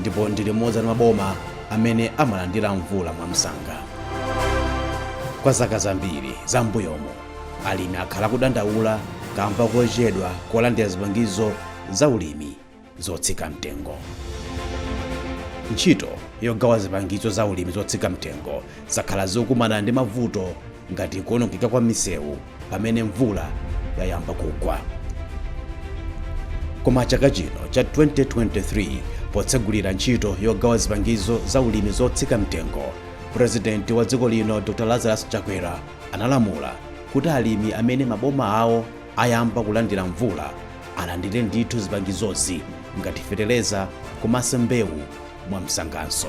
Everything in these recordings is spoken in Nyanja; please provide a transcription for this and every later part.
ndipo ndi limodzi mwa maboma amene amalandira mvula mwamsanga kwa zaka zambiri za mbuyomo alimi akhala kudandaula kamba kochedwa kulandira zipangizo za ulimi zotsika mtengo ntchito yogawa zipangizo za ulimi zotsika mtengo zakhala zikukumana ndi mavuto ngati kuonongeka kwa misewu pamene mvula yayamba kugwa koma chaka chino cha 2023 potsegulira ntchito yogawa zipangizo za ulimi zotsika mtengo purezidenti wa dziko lino dr lazarus chakwera analamula kuti alimi amene maboma awo ayamba kulandira mvula alandire ndithu zipangizozi ngati fetereza komanso mbewu mwamsanganso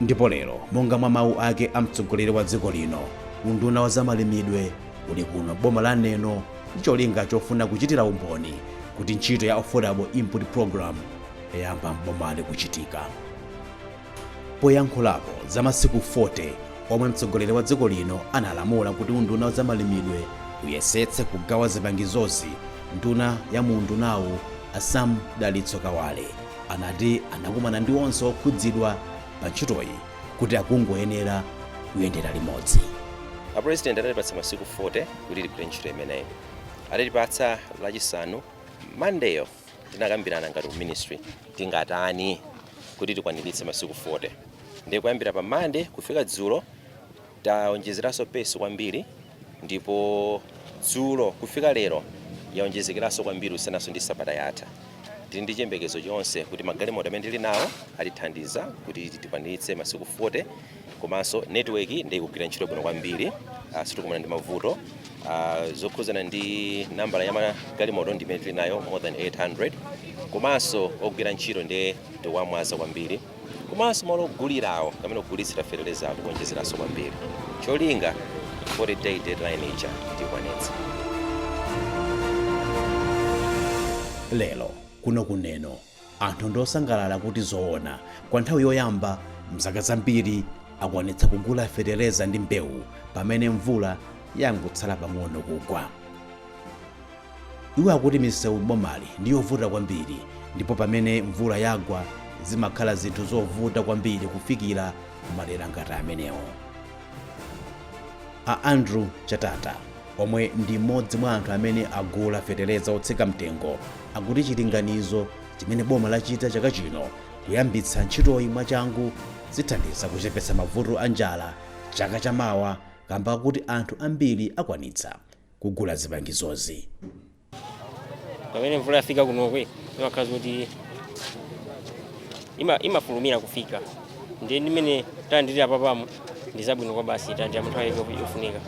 Ndipo lero, monga mwa mawu ake a mtsogoleri wa dziko lino, unduna wa zamalimidwe uli kuno boma la Neno ndi cholinga chofuna kuchitira umboni kuti ntchito ya Affordable Input Program yayamba m'bomali kuchitika. Poyankhulapo za masiku 40 omwe mtsogoleri wa dziko lino analamula kuti unduna wa zamalimidwe uyesetse kugawa zipangizozi, nduna ya mu undunawu a Sam Dalitso Kawale anati anakumana ndi onse okhudzidwa pa ntchitoyi kuti akungoyenera kuyendera limodzi. A President anatipatsa masiku 40 kuti tigwire ntchito imeneyi. Atatipatsa lachisanu Monday-yo tinakambirana ngati ku ministry tingatani kuti tikwaniritse masiku 40. Ndiye kuyambira pa Monday kufika dzulo Taonjezeraso pace kwambiri ndipo dzulo kufika lero yaonjezekeraso kwambiri kusiyanaso ndi sabata yatha. Tili ndi chiyembekezo chonse kuti magalimoto amene tili nawo atithandiza kuti tikwaniritse masiku 40 komanso network nde ikugwira ntchito bwino kwambiri ah, sitikumana ndi mavuto Ah, zokhuzana ndi nambala ya magalimoto ndi imene tili nayo more than 800 komanso ogwira ntchito nde tawamwaza kwambiri komanso malo ogulirawo kapena kugulitsira fetelezawo ndi kuonjezeranso kwambiri cholinga 40 day deadline ija tikwanitse. Lero kuno ku Neno anthu ndi osangalala kuti zoona kwa nthawi yoyamba mzaka zambiri akwanitsa kugula feteleza ndi mbewu pamene mvula yangotsala pang'ono kugwa. Iwo akuti misewu m'bomali ndi yovuta kwambiri ndipo pamene mvula yagwa zimakhala zinthu zovuta kwambiri kufikira kumadera ngati amenewo. A Andrew Chatata, omwe ndi mmodzi mwa anthu amene agula fetereza wotsika mtengo, akuti chilinganizo chimene boma lachita chaka chino kuyambitsa ntchitoyi mwachangu zithandiza kuchepetsa mavuto a njala chaka chamawa kamba kakuti anthu ambiri akwanitsa kugula zipangizozi. pamene mvula yafika kunokwe imakhala zoti ima- imafulumira kufika ndiye ndimene talandilira panopamu ndi zabwino kwabasi talandira mu nthawi yofunika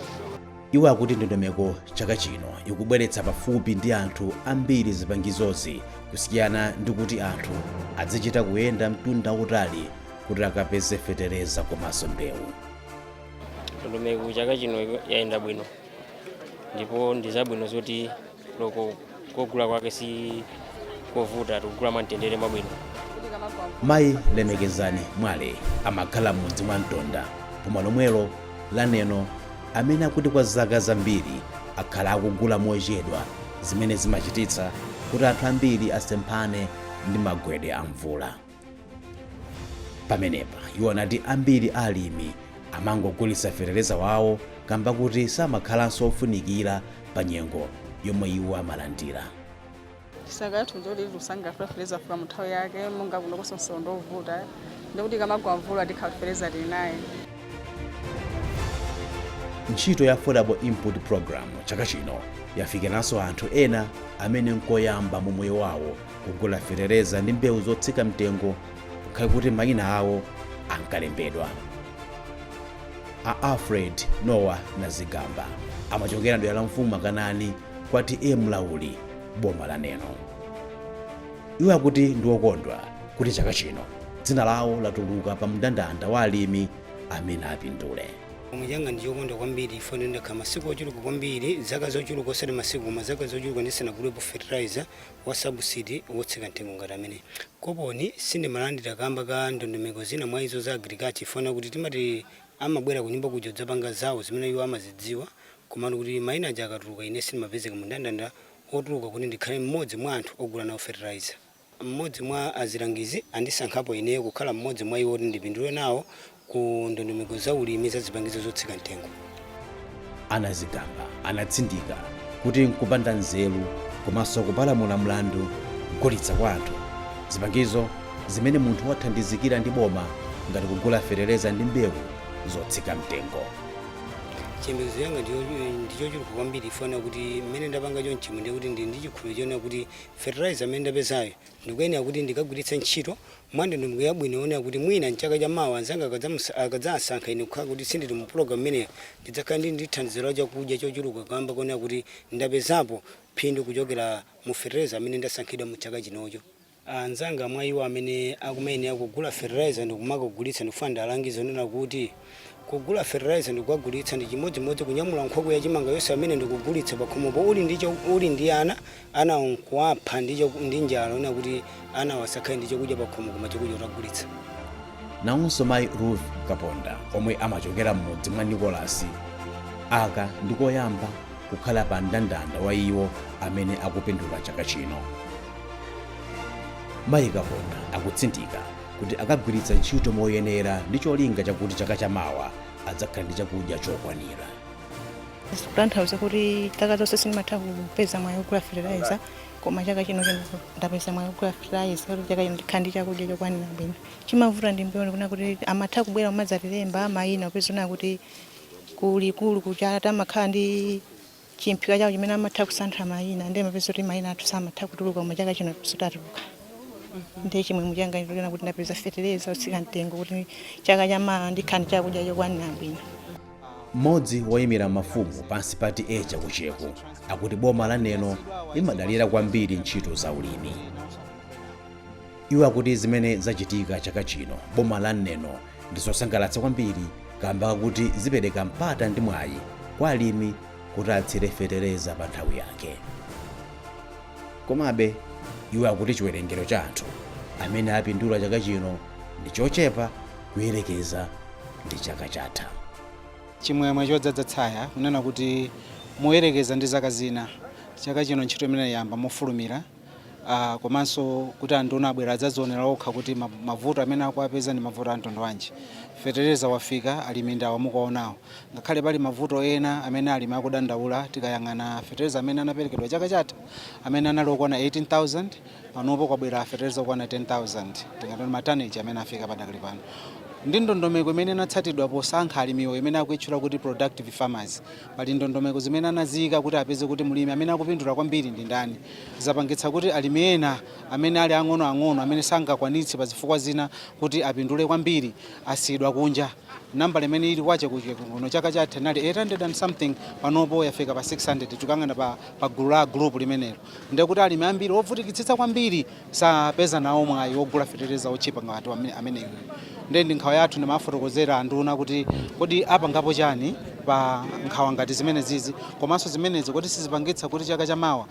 iwo akuti ndondomeko chaka chino ikubweretsa pafupi ndi anthu ambiri zipangizozi kusiyana ndi kuti anthu azichita kuyenda mtunda utali kuti akapeze fetereza komanso mbewu ndondomeko chaka chino yayenda bwino ndipo ndi zabwino zoti loko kugula kwake si kovuta tikugula mwamtendere mwabwino mayi lemekezani mwale amakhala m'mudzi mwa mtonda boma lomwelo la neno amene akuti kwa zaka zambiri akhala akugula mochedwa zimene zimachititsa kuti anthu ambiri asemphane ndi magwedwe a mvula pamenepa iwo anati ambiri alimi amangogulitsa fetereza wawo kamba kuti samakhalanso ofunikira pa nyengo yomwe iwo amalandira tisakathu nje kuti lusanga fetereza yafika mu nthawi yake monga kuno kusonso ndovuta ndikuti ikamagwa mvula tikhala fetereza tili naye ntchito ya affordable input program chaka chino yafikiranso anthu ena amene nkoyamba mu moyo wawo kugula fetereza ndi mbewu zotsika mtengo ngakhale kuti mayina awo ankalembedwa a alfred nowa nazigamba amachokera dera la mfumu makanani kwa t a mlauli boma la neno iwo akuti ndi okondwa kuti chaka chino dzina lawo latuluka pa mndandanda wa alimi amene apindule mumtima mwanga ndi wokondwa kwambiri chifukwa ndakhala masiku ochuluka kwambiri zaka zochuluka osati masiku koma zaka zochuluka ndisanagulepo fertilizer wa sabuside wotsika mtengo ngati ameneyi. Koponi sindimalandira kamba ka ndondomeko zina mwa izo za Agriculture chifukwa chakuti timati amabwera kunyumba kuja kudzapanga zawo zimene iwo amazidziwa komano kuti maina aja akatuluka ine sindimapezeka mu ndandanda otuluka kuti ndikhale m'modzi mwa anthu ogula nawo fertilizer. M'modzi mwa azilangizi andisankhapo ineyo kukhala m'modzi mwa iwo oti ndipindule nawo ku ndondomeko za ulimi za zipangizo zotsika mtengo. a nazigamba anatsindika kuti nkupanda nzeru komanso kupalamula mlandu kugulitsa kwa anthu zipangizo zimene munthu wathandizikira ndi boma ngati kugula fetereza ndi mbewu zotsika mtengo. chiyembekezo changa ndichochuluka kwambiri chifukwa chakuti mmene ndapanga chonchimu ndiye kuti ndili ndi chikhulupiriro chonena kuti fertilizer amene ndapezayo Ndikuyenera kuti ndikagwiritse ntchito mwandondomeko yabwino yonena kuti mwina m'chaka cha mawa anzanga akadzamusa, akadzaansankha ine kukhala kuti sindili mu pulogalamu imeneyo, ndidzakhala ndili ndi thandizo la chakudya chochuluka kaamba konena kuti ndapezapo phindu kuchokera mu fertilizer amene ndasankhidwa mu chaka chinocho. Anzanga mwa iwo amene akumayenera kugula fertilizer ndi kumakagulitsa ndikufuna ndiwalangize kunena kuti. Kugula fertilizer ndikukagulitsa ndi chimodzimodzi kunyamula nkhokwe ya chimanga yonse pamene ndikugulitsa pakhomopo uli ndi ana anawo nkuwapha ndi njala onena kuti anawo asakhale ndi chakudya pakhomo koma chakudya utagulitsa. Nawonso mayi Ruth Kaponda omwe amachokera m'mudzi mwa Nicholas aka ndi koyamba kukhala pa mndandanda wa iwo amene akupindula chaka chino. Mayi Kaponda akutsindika kuti akagwiritsa ntchito moyenera ndi cholinga chakuti chaka chamawa adzakhala ndi chakudya chokwanira zikutanthauza kuti chaka zonse sindimatha kupeza mwayi wogula fertilizer koma chaka chino ndapeza mwayi wogula fertilizer kuti chaka chino ndikhala ndi chakudya chokwanira bwino chimavuta ndi mbewu ndikuona kuti amatha kubwera kumadzatilemba mayina kupeza kuti kulikulu kuchata amakhala ndi chimphika chawo chimene amatha kusanthula mayina ndiye umapeza kuti mayina athu samatha kutuluka koma chaka chino zoti atuluka ndiye chimwemwe changa ndikuona kuti ndapeza fetereza otsika mtengo kuti chaka chamawa ndikhale ndi chakudya chokwanira bwino mmodzi woyimira mafumu pansi pa TA Chekucheku akuti boma la neno limadalira kwambiri ntchito za ulimi iwo akuti zimene zachitika chaka chino boma la neno ndi zosangalatsa kwambiri kamba kakuti zipereka mpata ndi mwayi kwa alimi kuti atsire fetereza pa nthawi yake komabe iwo akuti chiwerengero cha anthu amene apindula chaka chino ndi chochepa kuyerekeza ndi chaka chatha chimwemwe chodzadza tsaya kunena kuti moyerekeza ndi zaka zina chaka chino ntchito imeneyi yayamba mofulumira ah, komanso kuti anduna abwera adzadzionera okha kuti ma- mavuto amene akuwapeza ndi mavuto amtundu wanji fetereza wafika alimi ndawa mukuwaonawo ngakhale pali mavuto ena amene alimi akudandaula tikayang'ana fetereza amene anaperekedwa chaka chatha amene anali okwana 18000 panopo kwabwera fetereza okwana 10000 tingati ndi mataneji amene afika padakali pano ndi ndondomeko imene inatsatidwa posankha alimiwo imene akuitchula kuti productive farmers Pali ndondomeko zimene anaziika kuti apeze kuti mlimi amene akupindula kwambiri ndi ndani. Zapangitsa kuti alimi ena amene ali ang'onoang'ono amene sangakwanitse pa zifukwa zina kuti apindule kwambiri asiyidwa kunja. Nambala imene ili kwa Chekucheku kuno chaka chatha inali 800 and something panopo yafika pa 600 tikuyang'ana pa, pa gulu la gulupu limenelo. ndekuti alimi ambiri ovutikitsitsa kwambiri sapeza nawo mwayi wogula fetereza otchipa ngati ameneyu nde ndi nkhawa yathu ndimafotokozera anduna kuti kodi apangapo chani pa nkhawa ngati zimenezizi komanso zimenezi kodi sizipangitsa kuti chaka chamawa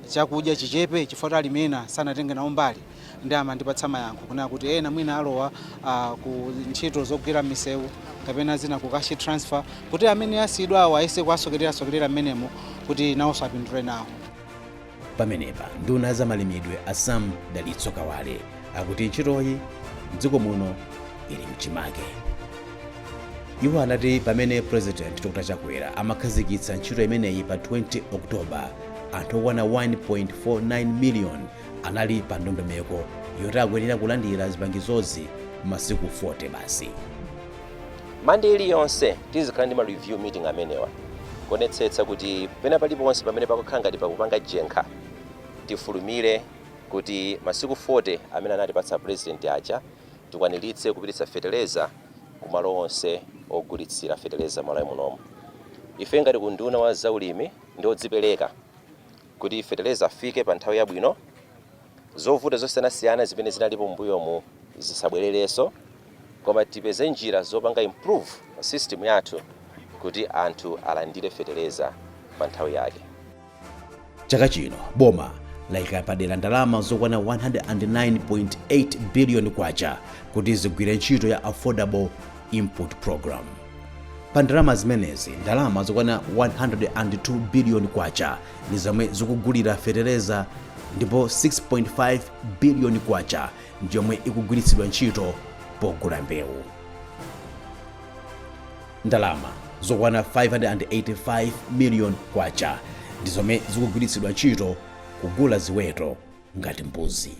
chakudya chichepe chifukwa kuti alimi ena sanatenge nawo mbali nde amandipatsa mayankho kunena kuti ena mwina alowa uh, ku ntchito zogwira m'misewu kapena zina ku cash transfer kuti amene asiyidwawo ayese kuwasokererasokerera mmenemo kuti nawonso apindule nawo pomwepa nduna ya zamalimidwe a sam dalitso kawale akuti ntchitoyi mdziko muno ili mchimake iwo anati pamene president dr chakwera amakhazikitsa ntchito imeneyi pa 20 oktoba anthu okwana 1.49 miliyoni anali pa ndondomeko yoti akuyenera kulandira zipangizozi m'masiku 40 basi mande iliyonse tizikhala ndi ma review meeting amenewa kuonetsetsa kuti pena paliponse pamene pakukhala ngati pakupanga jenkha tifulumire kuti masiku 40 amene anatipatsa president aja tikwaniritse kupititsa feteleza ku malo onse ogulitsira feteleza malawi munomu ife ngati ku unduna wa zaulimi ndi odzipereka Kuti feteleza afike pa nthawi yabwino, zovuta zosiyanasiyana zimene zinalipo m'mbuyomu zisabwererenso koma tipeze njira zopanga improve system yathu kuti anthu alandire feteleza pa nthawi yake. Chaka chino boma layika padera ndalama zokwana 109.8 biliyoni kwacha kuti zigwire ntchito ya Affordable Input Programme. pa ndalama zimenezi ndalama zokwana 102 biliyoni kwacha ndi zomwe zikugulira fetereza ndipo 6.5 biliyoni kwacha ndi yomwe ikugwiritsidwa ntchito pogula mbewu ndalama zokwana 585 miliyoni kwacha ndi zomwe zikugwiritsidwa ntchito kugula ziweto ngati mbuzi.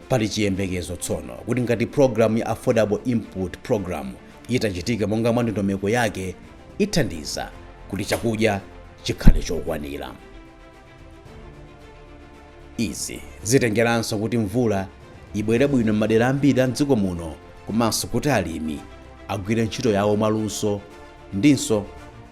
Pali chiyembekezo tsono kuti ngati programu ya Affordable Input Program itachitika monga mwa ndondomeko yake ithandiza kuti chakudya chikhale chokwanira. Izi zitengeranso kuti mvula ibwere bwino m'madera ambiri a mdziko muno komanso kuti alimi agwire ntchito yawo mwaluso ndinso